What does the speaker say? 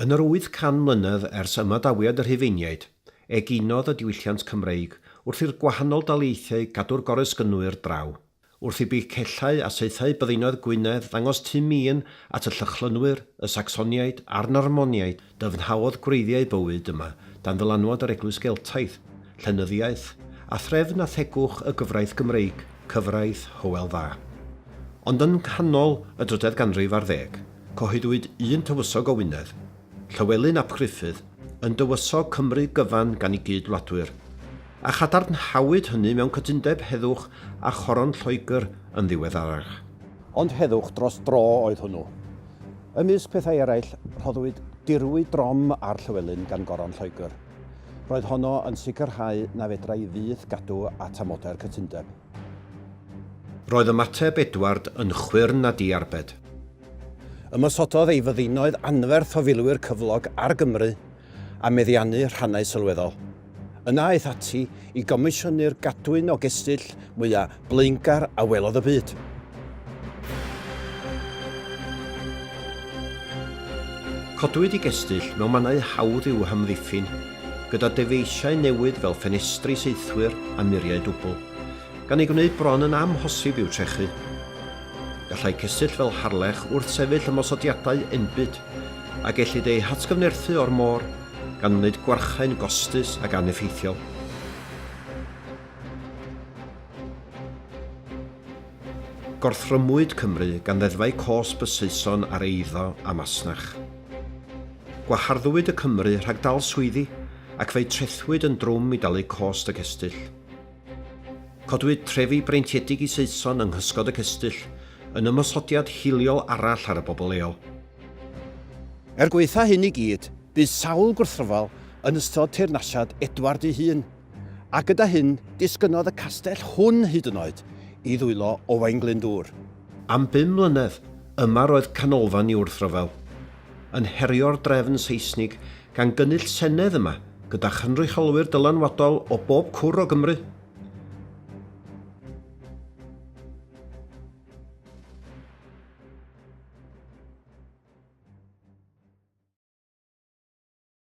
Yn yr 800 mlynedd ers ymadawiad y Rhufeiniaid, eginodd y diwylliant Cymreig wrth i'r gwahanol daleithiau gadw'r goresgynnwyr draw, wrth i bichellau a saethau byddinoedd Gwynedd ddangos tu mîn at y Llychlynwyr, y Sacsoniaid a'r Normoniaid, dyfnhaodd gwreiddiau bywyd yma dan ddylanwad yr Eglwys Geltaidd, llenyddiaeth, a threfn a thegwch y gyfraith Gymreig, cyfraith Hywel Dda. Ond yng nghanol y drydedd ganrif ar ddeg, Cyhoeddwyd un tywysog o Wynedd, Llywelyn ap Gruffudd, yn dywysog Cymru gyfan gan ei gyd-wladwyr, a chadarnhawyd hynny mewn cytundeb heddwch â choron Lloegr yn ddiweddarach. Ond heddwch dros dro oedd hwnnw. Ymysg pethau eraill, rhoddwyd dirwy drom ar Llywelyn gan goron Lloegr. Roedd honno yn sicrhau na fedrai fyth gadw at amodau'r cytundeb. Roedd ymateb Edward yn chwyrn a diarbed. Ymosododd ei fyddinoedd anferth o filwyr cyflog ar Gymru a meddiannu rhannau sylweddol. Yna aeth ati i gomisiynu'r gadwyn o gestyll mwyaf blaengar a welodd y byd. Codwyd y gestyll mewn mannau hawdd i'w hamddiffyn, gyda dyfeisiau newydd fel ffenestri saethwyr a muriau dwbl, gan ei gwneud bron yn amhosib i'w trechu. Gallai cestyll fel Harlech wrthsefyll ymosodiadau enbyd, a gellid eu hatgyfnerthu o'r môr, gan wneud gwarchae'n gostus ac aneffeithiol. Gorthrymwyd Cymru gan ddeddfau cosb y Saeson ar eiddo a masnach. Gwaharddwyd y Cymry rhag dal swyddi ac fe'u trethwyd yn drwm i dalu cost y cestyll. Codwyd trefi breintiedig i Saeson yng nghysgod y cestyll yn ymosodiad hiliol arall ar y bobl leol. Er gwaetha hyn i gyd, bu sawl gwrthryfel yn ystod teyrnasiad Edward ei hun. A gyda hyn, disgynnodd y castell hwn hyd yn oed i ddwylo Owain Glyndŵr. Am bum mlynedd, yma roedd canolfan i wrthryfel. Yn herio'r drefn Seisnig, gan gynnull senedd yma gyda chynrychiolwyr dylanwadol o bob cwr o Gymru.